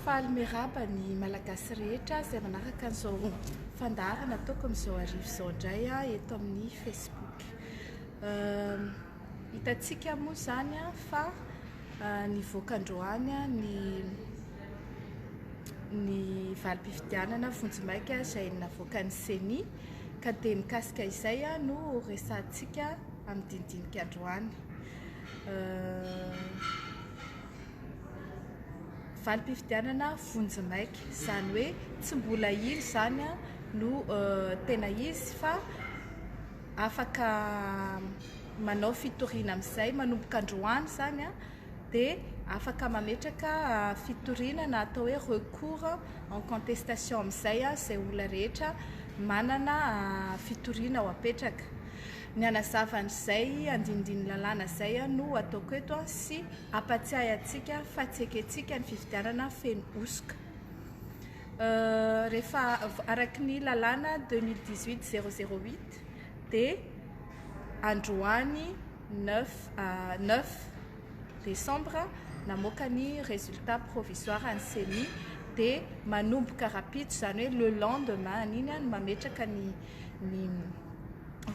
Faly miarahaba ny Malagasy rehetra izay manaraka an'izao fandaharana ataoko amin'izao arivo izao indray eto amin'ny Facebook. Hitantsika moa izany fa nivoaka androany ny ny valim-pifidianana vonjimaika izay navoakan'ny CENI ka dia mikasika izay no resahantsika. amin'ny dinidinika androany. Valim-pifidianana vonjimaika, izany hoe tsy mbola iny izany no tena izy fa afaka manao fitoriana amin'izay manomboka androany izany dia afaka mametraka fitoriana na atao hoe recours en contestation amin'izay izay olona rehetra manana fitoriana ho apetraka. Ny hanazava an'izay andinindin'ny lalàna izay no ataoko eto sy hampatsiahy antsika fa tsy ekentsika ny fifidianana feno hosoka. Rehefa araky ny lalàna 2018 008 dia androany 9 desambra namoaka ny résultat provisoire ny ceni dia manomboka rahampitso izany hoe le lendemain an'iny no mametraka ny ny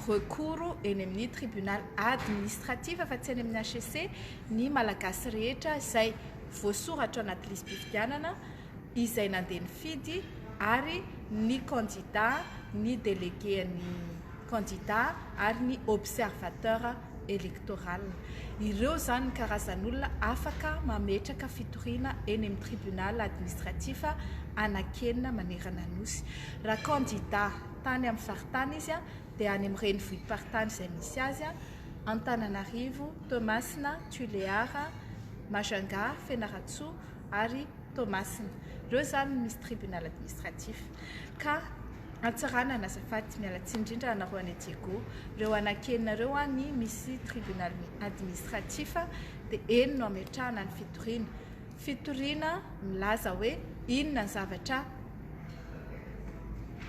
recours eny amin'ny tribunal administratif fa tsy eny amin'ny HCC ny Malagasy rehetra izay voasoratra anaty lisi-pifidianana, izay nandeha nifidy ary ny kandida, ny délégué an'ny kandida ary ny observateur électoral. Ireo izany ny karazan'olona afaka mametraka fitoriana eny amin'ny tribunal administratif anankenina manerana ny Nosy. Raha kandida. tany amin'ny faritany izy dia any amin'ny renivohi-paritany izay misy azy, Antananarivo, Toamasina, Tulear, Majunga, Fianarantsoa ary Toamasina. Ireo izany no misy tribunal administratif. Ka Antsiranana, azafady, miala tsiny indrindra anareo any Diego, ireo anankenina ireo any misy tribunal administratif dia eny no ametrahana ny fitoriana. Fitoriana milaza hoe inona ny zavatra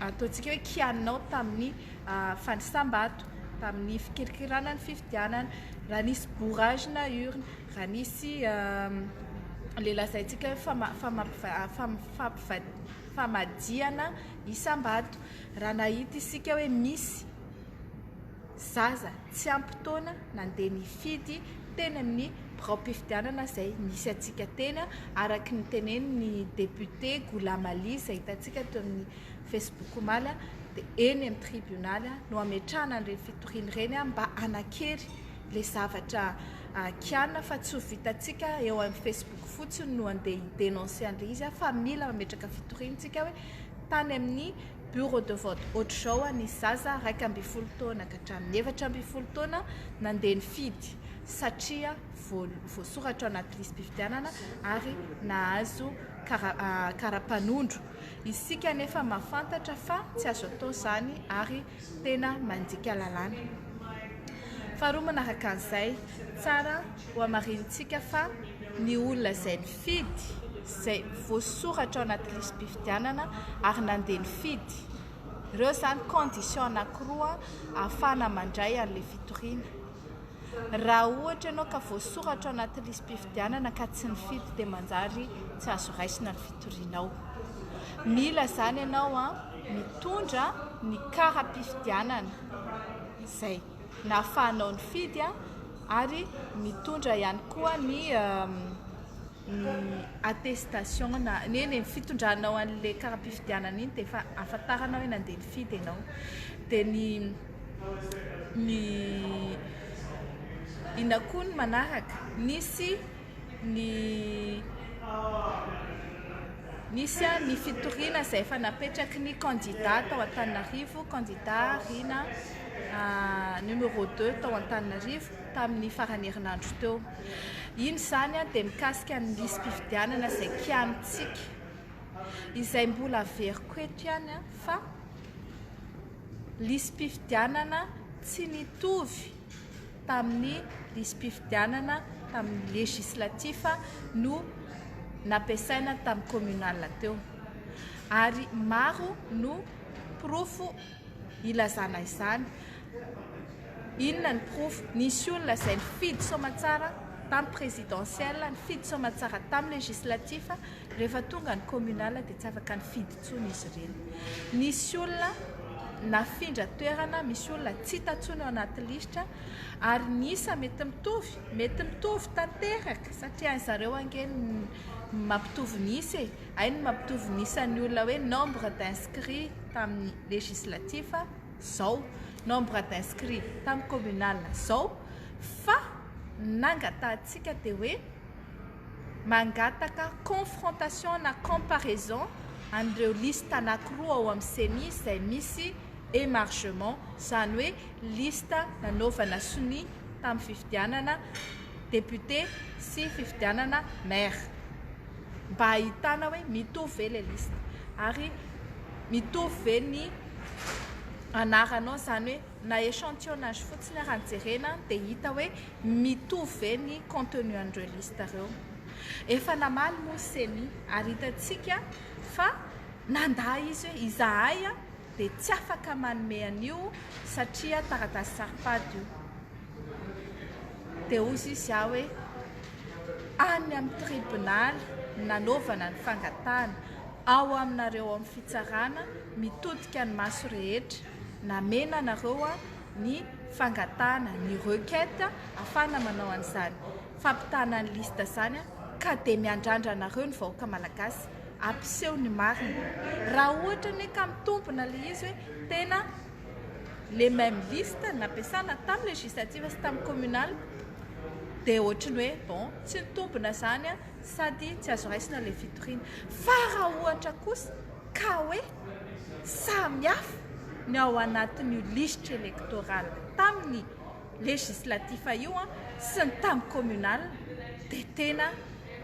ataontsika hoe kianinao tamin'ny fanisam-bato, tamin'ny fikirikirana ny fifidianana, raha nisy bourrage na urne, raha nisy ilay lazaintsika hoe fama- famampiva- fam- fampiva- famadihana isam-bato, raha nahita isika hoe misy. zaza tsy ampy taona nandeha nifidy teny amin'ny biraom-pifidianana izay nisy antsika teny araka ny tenenin'ny depiote Goulam Ali izay hitantsika teo amin'ny Facebook omaly dia eny amin'ny tribonaly no hametrahana an'ireny fitoriana ireny mba hanakery ilay zavatra kianina fa tsy ho vitantsika eo amin'ny Facebook fotsiny no handeha hi-denoncer an'ilay izy fa mila mametraka fitoriana isika hoe tany amin'ny Bureau de vote Hoatrizao aho nisy zaza iraika ambin'ny folo taona ka hatramin'ny efatra ambin'ny folo taona nandeha nifidy satria voasoratra ao anaty lisi-pifidianana ary nahazo kara-panondro. Isika anefa mahafantatra fa tsy azo atao izany ary tena mandika lalàna. Faharoa manaraka an'izay, tsara hohamarinintsika fa ny olona izay Fidy izay voasoratra ao anaty lisi-pifidianana ary nandeha nifidy. Ireo izany conditions anankiroa ahafahana mandray an'ilay fitoriana. Raha ohatra ianao ka voasoratra ao anaty lisi-pifidianana ka tsy nifidy dia manjary tsy azo raisina ny fitorianao. Mila izany ianao mitondra ny kara-pifidianana. Izay. nahafahanao nifidy ary mitondra ihany koa ny attestation na eny e, fitondranao an'le kara-pifidianana iny dia efa ahafantarana hoe nandeha nifidy ianao, dia ny ny inona koa ny manaraka? nisy ny nisy ary ny fitoriana izay efa napetraky ny kandida tao Antananarivo, kandida Rina numéro deux tao Antananarivo tamin'ny faran'ny herinandro teo. Iny izany dia mikasika ny lisi-pifidianana izay kianintsika, izay mbola averiko eto ihany fa lisi-pifidianana tsy nitovy. tamin'ny lisi-pifidianana tamin'ny législatif no nampiasaina tamin'ny communal teo. Ary maro no porofo ilazana izany. Inona ny porofo? Nisy olona izay nifidy soamatsara tamin'ny présidentielle, nifidy soamatsara tamin'ny législatif, rehefa tonga ny communal dia tsy afaka nifidy intsony izy ireny. Nisy olona nafindra toerana, misy olona tsy hita intsony ao anaty lisitra, ary ny isa mety mitovy, mety mitovy tanteraka, satria any zareo ange ny mampitovy ny isa e, hay ny mampitovy ny isan'ny olona hoe nombre d'inscrit tamin'ny législatif izao, nombre d'inscrit tamin'ny communal izao, fa ny nangatahantsika dia hoe, mangataka confrontation na comparaison an'ireo liste anankiroa ao amin'ny ceni izay misy emargement, izany hoe liste nanaovana sonia tamin'ny fifidianana député sy fifidianana maire, mba hahitana hoe mitovy ve ilay liste ary mitovy ve ny anaranao, izany hoe. na echantillonnage fotsiny ary no jerena dia hita hoe mitovy ve ny contenu an'ireo liste ireo. Efa namaly moa ceni ary hitantsika fa nandà izy hoe izahay dia tsy afaka manome an'io satria taratasy saro-pady io. Dia hozy izy aho hoe any amin'ny tribonaly nanaovana ny fangatahana, ao aminareo ao amin'ny fitsarana mitodika ny maso rehetra. namena anareo ny fangatahana ny requête afahana manao an'izany fampitana ny liste izany ka dia miandrandra anareo ny vahoaka malagasy hampiseho ny marina raha ohatra anie ka mitombina ilay izy hoe tena les mêmes listes nampiasana tamin'ny législative sy tamin'ny communal dia ohatra ny hoe bon tsy nitombina izany sady tsy azo raisina ilay fitoriana fa raha ohatra kosa ka hoe samihafa ny ao anatin'io lisitra elektoraly tamin'ny législatifa io sy ny tamin'ny communal dia tena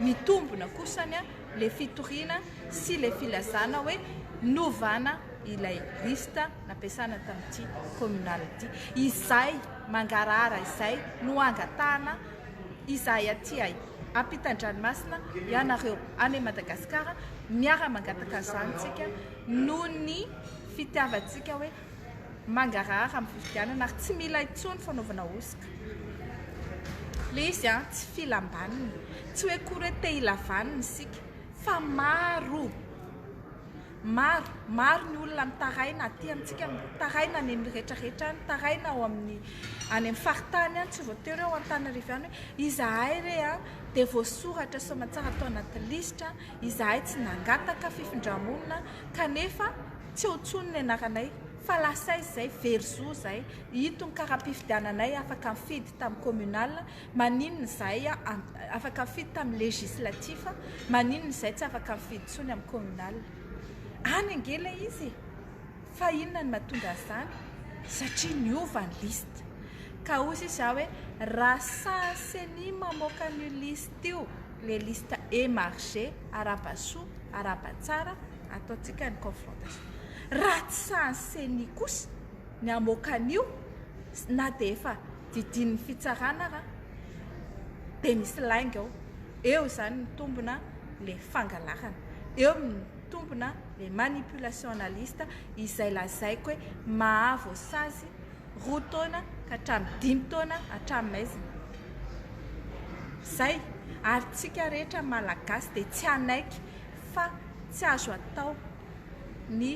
mitombona kosany ilay fitoriana sy ilay filazana hoe novana ilay liste nampiasana tamin'ity communal ity. Izay mangarahara izay no angatahana izahay aty ay. ampitan-dranomasina ianareo any Madagasikara miara mangataka izany tsika noho ny fitiavantsika hoe mangarahara amin'ny fifidianana ary tsy mila intsony fanaovana hosoka le izy an tsy filam-baniny tsy hoe kory hoe te hilavanina isika fa maro Maro, maro ny olona mitaraina aty amintsika, mitaraina any amin'ny rehetra rehetra any, mitaraina ao amin'ny any amin'ny faritany any, tsy voatery ao Antananarivo ihany hoe izahay re a, dia voasoratra soamantsara tao anaty lisitra, izahay tsy nangataka fifindra-monina kanefa tsy eo intsony ny anaranay, fa lasa aiza izay, very zo izay, ito ny kara-pifidiananay afaka nifidy tamin'ny communal, Maninona izahay afaka mifidy tamin'ny législatif, maninona izahay tsy afaka mifidy intsony amin'ny communal? Any ange ilay izy e! Fa inona no mahatonga an'izany? Satria niova ny liste. Ka hoy sisa aho hoe, raha sahy ceni mamoaka an'io liste io, ilay liste émargé, arahaba-soa, arahaba-tsara, ataontsika ny confrontation. Raha tsy sahy ny ceni kosa ny hamoaka an'io, na dia efa didin'ny fitsarana ra dia misy lainga ao eo izany mitombina le fangalarana eo mitombina le manipulation analyste izay lazaiko hoe mahavoasazy roa taona ka hatramin'ny dimy taona hatramin'ny maizina zay ary tsika rehetra malagasy dia tsy hanaiky fa tsy azo atao ny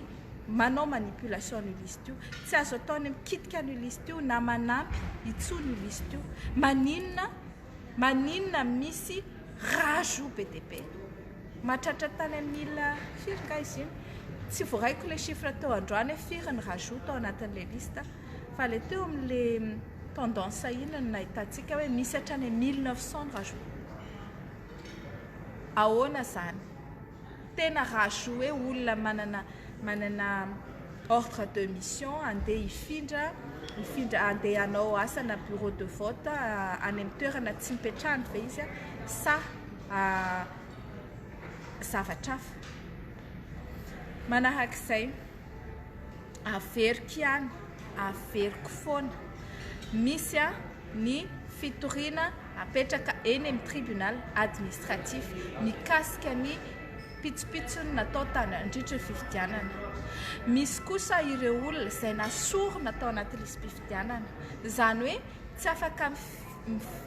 manao manipulation an'io liste io, tsy azo atao ny mikitika an'io liste io na manampy intsony io liste io, maninona maninona misy rajout be dia be, mahatratra tany amin'ny mille firy nga izy iny, tsy voaraiko ilay chiffre teo androany hoe firy ny rajout tao anatin'ilay liste fa ilay teo amin'ilay tendance iny no nahitantsika hoe misy hatrany amin'ny mille neuf cent ny rajout, ahoana izany? Tena raha zo hoe olona manana manana ordre de mission andeha hifindra hifindra andeha hanao asana bureau de vote any amin'ny toerana tsy mipetrahany ve izy sa zavatra hafa? Manahaka izay. Averiko ihany, averiko foana. Misy ny fitoriana apetraka eny amin'ny tribunal administratif mikasika ny pitsopitsony natao nandritry ny fifidianana. Misy kosa ireo olona izay nasorina tao anaty lisi-pifidianana. Izany hoe tsy afaka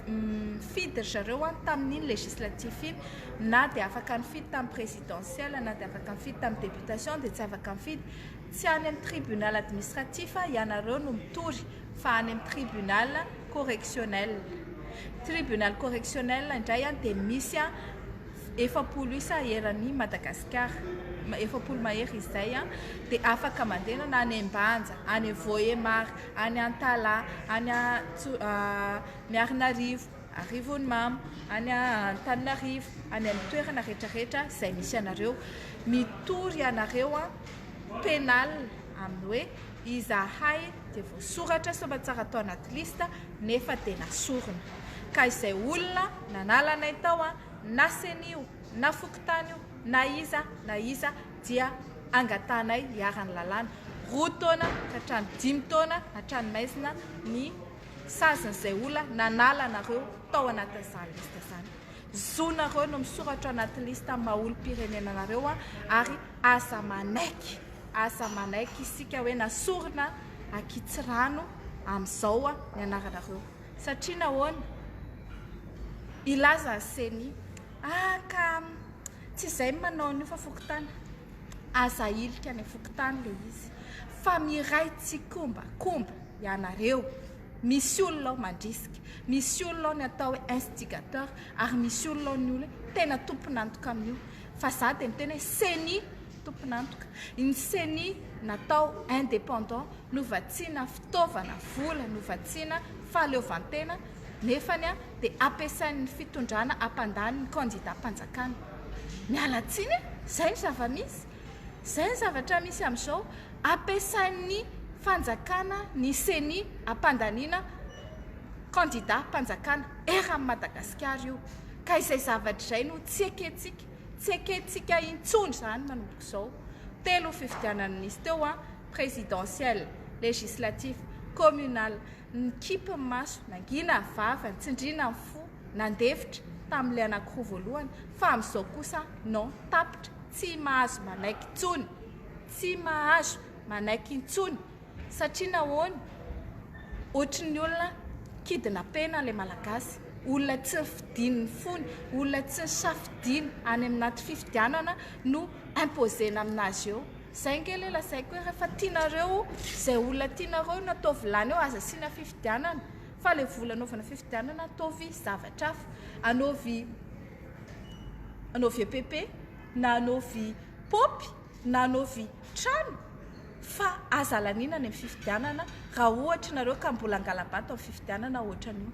Nifidy ry zareo an tamin'iny législatif iny, na dia afaka nifidy tamin'ny présidentielle, na dia afaka nifidy tamin'ny députation dia tsy afaka mifidy. Tsy any amin'ny tribunal administratif ianareo no mitory fa any amin'ny tribunal correctionnel. Tribunal correctionnel indray an dia misy an efapolo isa eran'i Madagasikara, efapolo mahery izay an, dia afaka mandeha na any Ambanja, any Vohémar. any Antala, any Miarinarivo, Arivonimamo, any Antananarivo, any amin'ny toerana rehetra rehetra izay misy anareo. Mitory ianareo an, pénal amin'ny hoe izahay dia voasoratra soamantsara tao anaty liste nefa dia nasorina. Ka izay olona nanala anay tao an, na ceni io, na fokontany io, na iza na iza, dia angatahanay hiharan'ny lalàna, roa taona ka hatramin'ny dimy taona an-tranomaizina ny sazin'izay olona nanala anareo tao anatin'izany lista izany. Zonareo no misoratra anaty lista maha-olom-pirenena anareo ary aza manaiky, aza manaiky isika hoe nasorina an-kitsirano amin'izao ny anaranareo. Satria nahoana? Hilaza ny ceni, ah ka. Tsy izay ny manao an'io fa fokontany. Aza ahilika any fokontany ilay izy fa miray tsikomba komba ianareo. Misy olona ao mandrisika, misy olona ao ny atao hoe instigateur ary misy olona ao ny olona hoe tena tompon'antoka amin'io. Fa za dia miteny hoe ceni tompon'antoka. Ny ceni natao indépendant no vatsiana fitaovana, vola no vatsiana fahaleovantena. nefany dia ampiasain'ny fitondrana hampandany ny kandidam-panjakana. Miala tsiny e! Izay no zava-misy. Izay ny zavatra misy amin'izao. Ampiasain'ny fanjakana ny ceni hampandaniana kandidam-panjakana. Erra amin'i Madagasikara io. Ka izay zavatra izay no tsy ekentsika. Tsy ekentsika intsony izany manomboka izao. Telo fifidianana nisy teo, presidentielle, législatif, communal. Nikipy ny maso, nangina ny vavany, tsindriana ny fo, nandefitra, tamin'ilay anankiroa voalohany, fa amin'izao kosa non, tapitra, tsy mahazo manaiky intsony, tsy mahazo manaiky intsony, satria nahoana? Ohatry ny olona kidnapena ilay Malagasy, olona tsy nifidin'ny fony, olona tsy nisafidiany any amin'aty fifidianana no imposer-na amin'azy eo. Zay nge le lazaiko hoe refa tianareo zay olona tianareo no ataovy lany eo aza asiana fifidianana fa le vola anaovana fifidianana ataovy zavatra hafa anaovy anaovy epp na anaovy paopy na anaovy trano fa aza laniana ny fifidianana ra ohatra nareo ka mbola angalabato am fifidianana ohatran io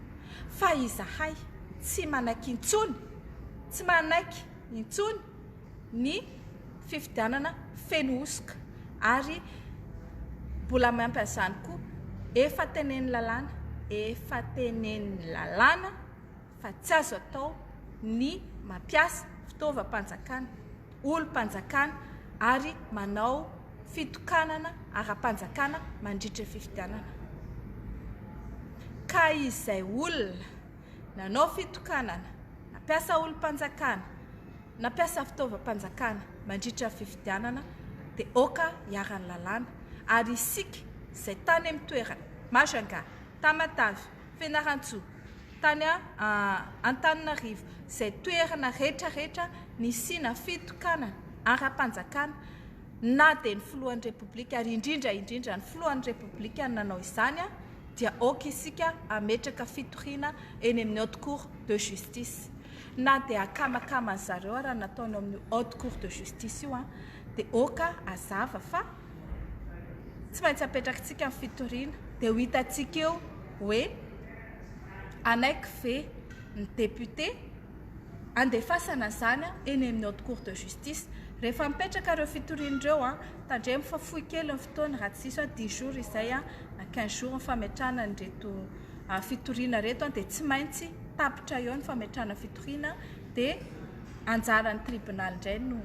fa izahay tsy manaky intsony tsy manaiky intsony ny fifidianana feno hosoka ary mbola ampy an'izany koa efa tenen'ny lalàna efa tenen'ny lalàna fa tsy azo atao ny mampiasa fitaovam-panjakana olom-panjakana ary manao fitokanana ara-panjakana mandritra fifidianana ka izay olona Nanao fitokanana, nampiasa olom-panjakana, nampiasa fitaovam-panjakana mandritra ny fifidianana dia oka iharan'ny lalàna ary isika izay tany amin'ny toerana, Majunga, Tamatave, Fianarantsoa, tany Antananarivo, izay toerana rehetra rehetra nisiana fitokanana ara-panjakana, na dia ny filohan'ny Repoblika ary indrindra indrindra ny filohan'ny Repoblika no nanao izany dia ok isika ametraka fitoriana eny amin'ny Haute Cour de Justice na dia akamakama ny zareo ary nataony ao amin'ny Haute Cour de Justice io dia ok azava fa tsy maintsy apetrakitsika ny fitoriana dia ho hitantsika eo hoe anaiky ve ny député andefasana izany eny amin'ny haute cour de justice rehefa mipetraka ireo fitoriana ireo an, tandremo fa fohy kely ny fotoana raha tsy diso aho dix jours izay an na quinze jours ny fametrahana an'ireto fitoriana ireto an, dia tsy maintsy tapitra eo ny fametrahana fitoriana dia anjaran'ny tribonaly indray no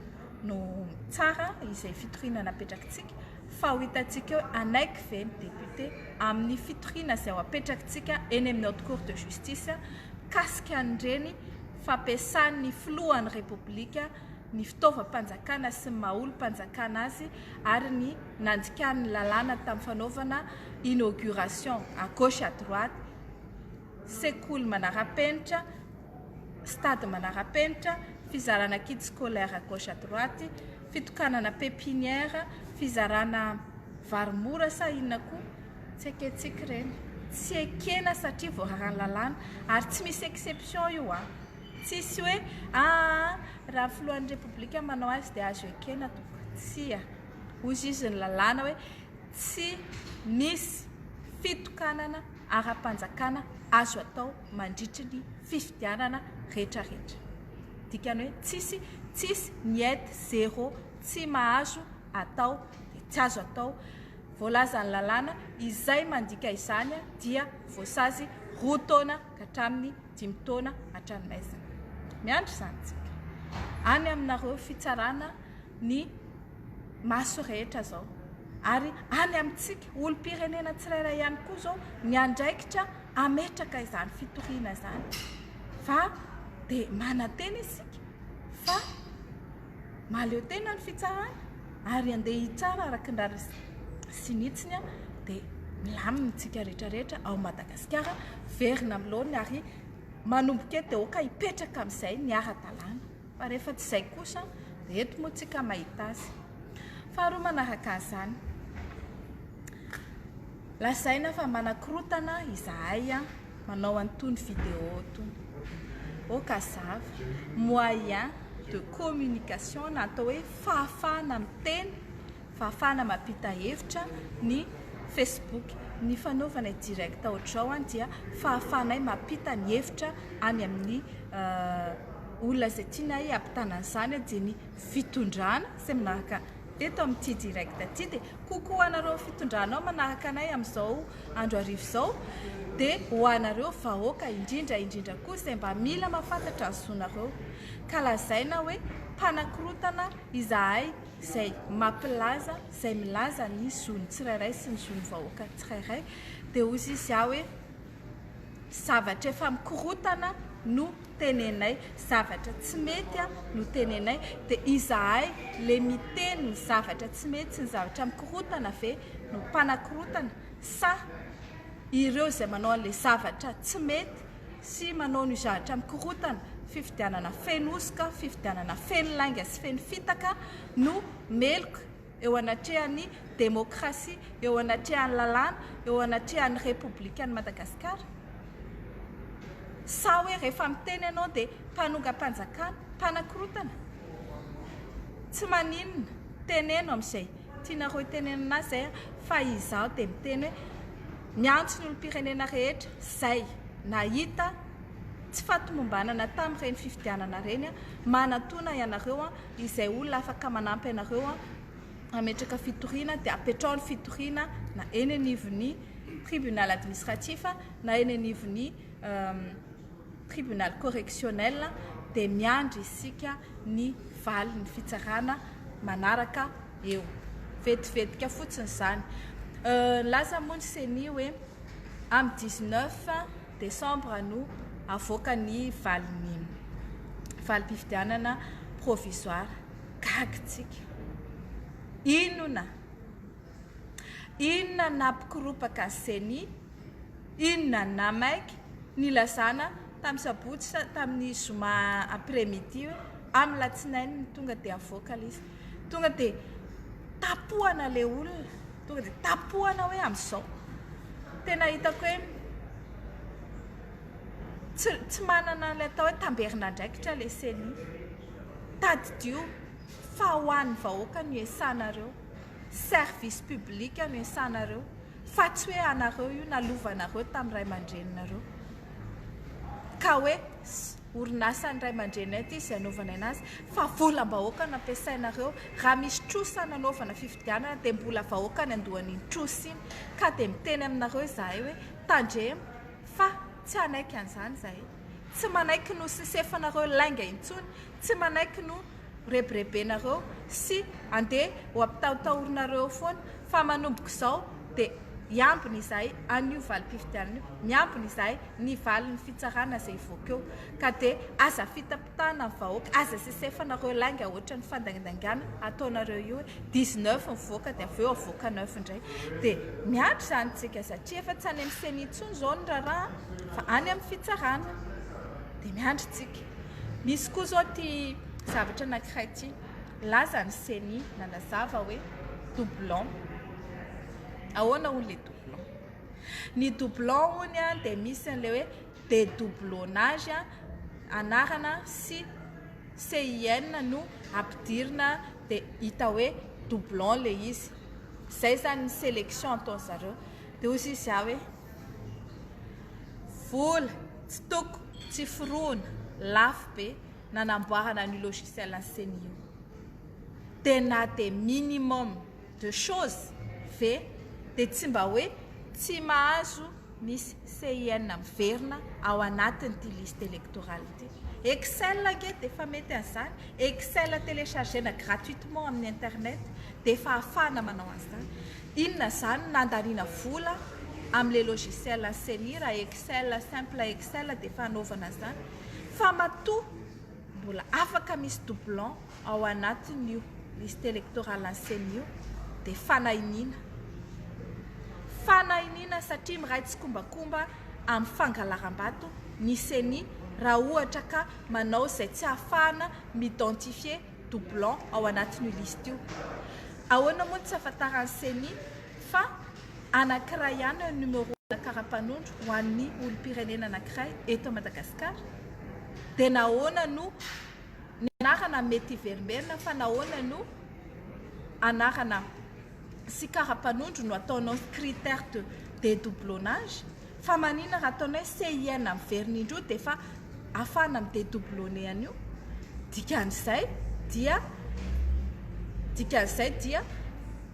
no mitsara izay fitoriana napetrakitsika. fa ho hitantsika eo hanaiky ve ny député amin'ny fitoriana izay ho apetrakintsika eny amin'ny Haute Cour de Justice mikasika an'ireny fampiasan'ny filohan'ny Repoblika ny fitaovam-panjakana sy ny maha olom-panjakana azy ary ny nandikan'ny lalàna tamin'ny fanaovana inauguration à gauche à droite sekoly manara-penitra, stade manara-penitra, fizarana kit scolaire à gauche à droite, fitokanana pepinière, fizarana vary mora sa inona koa, tsy ekentsika ireny, tsy ekena satria voararan'ny lalàna, ary tsy misy exception io an, tsisy hoe aa raha ny filohan'ny repoblika manao azy dia azo ekena tompoko, tsia, hoy izy ny lalàna hoe tsy misy fitokanana ara-panjakana azo atao mandritry ny fifidianana retraretra. Dikany hoe tsisy, tsisy, niet, zéro, tsy mahazo atao, dia tsy azo atao. Voalazan'ny lalàna izay mandika izany dia voasazy roa taona ka hatramin'ny dimy taona an-tranomaizina. Miandry izany tsika. Any aminareo fitsarana ny maso rehetra izao. Ary any amintsika olom-pirenena tsirairay ihany koa izao ny andraikitra. hametraka izany fitoriana izany fa dia manantena isika fa mahaleo tena ny fitsarana ary andeha hitsara araka ny rariny sy ny hitsiny aho dia milamina itsika rehetra rehetra ao Madagasikara verina amin'ny laoniny ary manomboka eto dia aoka hipetraka amin'izay ny ara-dalàna. Fa rehefa tsy izay kosa dia eto moa tsika mahita azy. Faharoa manaraka an'izany, lazaina fa manakorotana izahay manao an'itony vidéo itony. Oh ka zava, moyen de communication na atao hoe fahafahana miteny fahafahana mampita hevitra ny Facebook. Ny fanaovana i direct ohatr'izao an dia fahafahanay mampita ny hevitra any amin'ny olona izay tianay hampitana an'izany an dia ny fitondrana izay manaraka teto amin'ity direct ity dia coucou anareo fitondrana ao manaraka anay amin'izao andro hariva izao dia ho anareo vahoaka indrindra indrindra koa izay mba mila mahafantatra ny zonareo ka lazaina hoe mpanakorotana izahay izay mampilaza, izay milaza ny zon'ny tsirairay sy ny zon'ny vahoaka tsirairay, dia hoy izy aho hoe zavatra efa mikorotana no tenenay, zavatra tsy mety no tenenay, dia izahay le miteny ny zavatra tsy mety sy ny zavatra mikorotana ve no mpanakorotana sa ireo izay manao an'ilay zavatra tsy mety sy manao ny zahatra mikorontana, fifidianana feno hosoka, fifidianana feno lainga sy feno fitaka no meloka eo anatrehan'ny demokrasia, eo anatrehan'ny lalàna, eo anatrehan'ny Repoblikan'i Madagasikara? Sa hoe rehefa miteny ianao dia mpanongam-panjakana, mpanakorontana? Tsy maninona, teneno amin'izay tianareo itenenana azy izay fa izaho dia miteny hoe, Miantso ny olom-pirenena rehetra izay nahita tsy fahatomombanana tamin'ireny fifidianana ireny aho, manatona ianareo izay olona afaka manampy anareo hametraka fitoriana dia apetraho ny fitoriana na eny anivon'ny tribunal administratif na eny anivon'ny tribunal correctionnel dia miandry isika ny valin'ny fitsarana manaraka. eo. Vetivetika fotsiny izany. Nilaza moa ny ceni hoe amin'ny dix neuf desambra no havoaka ny valin'ny valim-pifidianana provisoara. Gaga isika. Inona? Inona no nampikoropaka ny ceni? Inona no namaiky? Nilazana tamin'ny sabotsy, tamin'ny zoma après midi hoe amin'ny latsinainy no tonga dia havoaka ilay izy. Tonga de tapohana le olona, tonga de tapohana hoe amzao. Tena hitako hoe tsy tsy manana le atao hoe tamberin'andraikitra le ceni. Tadidio fa ho an'ny vahoaka no iasanareo, service public no iasanareo fa tsy hoe anareo io nalovanareo tamin'ny ray aman-dreninareo ka hoe. Orinasan'ny ray aman-dreninay ity izay anaovanay anazy fa volam-bahoaka no ampiasainareo. Raha misy trosa nanaovana fifidianana dia mbola vahoaka ny andohan'iny trosa iny. Ka dia miteny aminareo izahay hoe tandremo fa tsy hanaiky an'izany izahay. Tsy manaiky ny ho sisefanareo lainga intsony, tsy manaiky ny ho. rebirebenareo sy andeha ho ampitahotahorinareo eo foana fa manomboka izao dia hiambina izahay an'io valim-pifidianana io, miambina izahay ny valin'ny fitsarana izay hivoaka eo ka dia aza fitapitahana ny vahoaka, aza sesefanareo lainga ohatran'ny fandaindaingana ataonareo io hoe dix neuf mivoaka dia avy eo avoaka neuf indray dia miandry izany isika satria efa tsy any amin'ny ceni intsony izao ny raharaha fa any amin'ny fitsarana dia miandry isika. Misy koa izao ity zavatra anankiray ity. Laza ny CENI nanazava hoe doublon. Ahoana hono ilay doublon? Ny doublon hono a dia misy an'ilay hoe dédoublonnage a, anarana sy CIN no ampidirina dia hita hoe doublon ilay izy. Izay izany ny sélection ataon'izareo. Dia hoy izy ahy hoe. Vola, tsy toko, tsy forohona, lafo be nanamboarana an'io logiciel an'i ceni io. Dia na dia minimum de choses ve dia tsy mba hoe tsy mahazo misy CIN miverina ao anatin'ity liste électorale ity. Excel ange dia efa mety an'izany, Excel télécharger-na gratuitement amin'ny internet dia efa ahafahana manao an'izany. Inona izany nandaniana vola am le logiciel ny ceni raha excel simple excel dia efa anaovana izany fa matoa mbola afaka misy doublon ao anatin io liste electorale ny ceni io dia fanahiniana fanahiniana satria miray tsikombakomba am fangalarambato ny ceni raha ohatra ka manao izay tsy ahafahana mi identifier doublons ao anatin'io liste io. Ahoana moa no tsy ahafantaran'ny Ceni fa anankiray ihany ny numéro-na kara-panondro ho an'ny olom-pirenena anankiray eto Madagasikara? Dia nahoana no ny anarana mety hiverimberina fa nahoana no anarana sy kara-panondro no ataonao critère de dédoublonnage? Fa manina raha ataonay CIN miverina indroa dia efa afahana mi dédoublonner an'io? Dikan'izay dia dikan'izay dia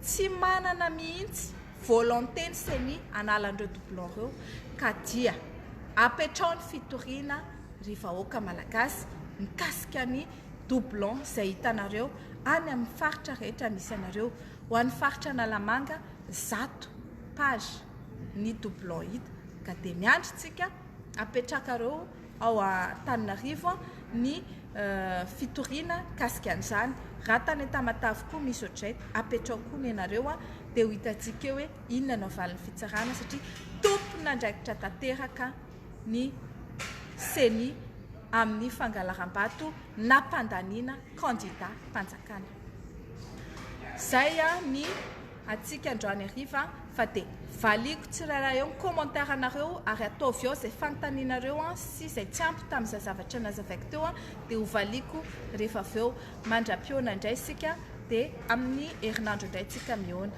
tsy manana mihitsy volonté ny ceni hanala an'ireo doublons ireo ka dia apetraho ny fitoriana ry vahoaka malagasy mikasika ny doublons izay hitanareo any amin'ny faritra rehetra misy anareo. Ho an'ny faritra Analamanga zato. page ny doublon hita ka dia miandry tsika apetrakareo ao Antananarivo ny fitoriana kasika an'izany raha tany Tamatave koa misy otray apetrao koa nenareo dia ho hitantsika eo hoe inona no valin'ny fitsarana satria tompon'andraikitra tanteraka ny ceni amin'ny fangalaram-bato nampandaniana candidat mpanjakana zay ny antsika androany hariva fa dia valiako tsirairay ao ny commentaire anareo ary ataovy ao izay fanontanianareo an sy izay tsy ampy tamin'izay zavatra nazavaiko teo an dia ho valiako rehefa avy eo mandra-pihaona indray isika dia amin'ny herinandro indray tsika mihaona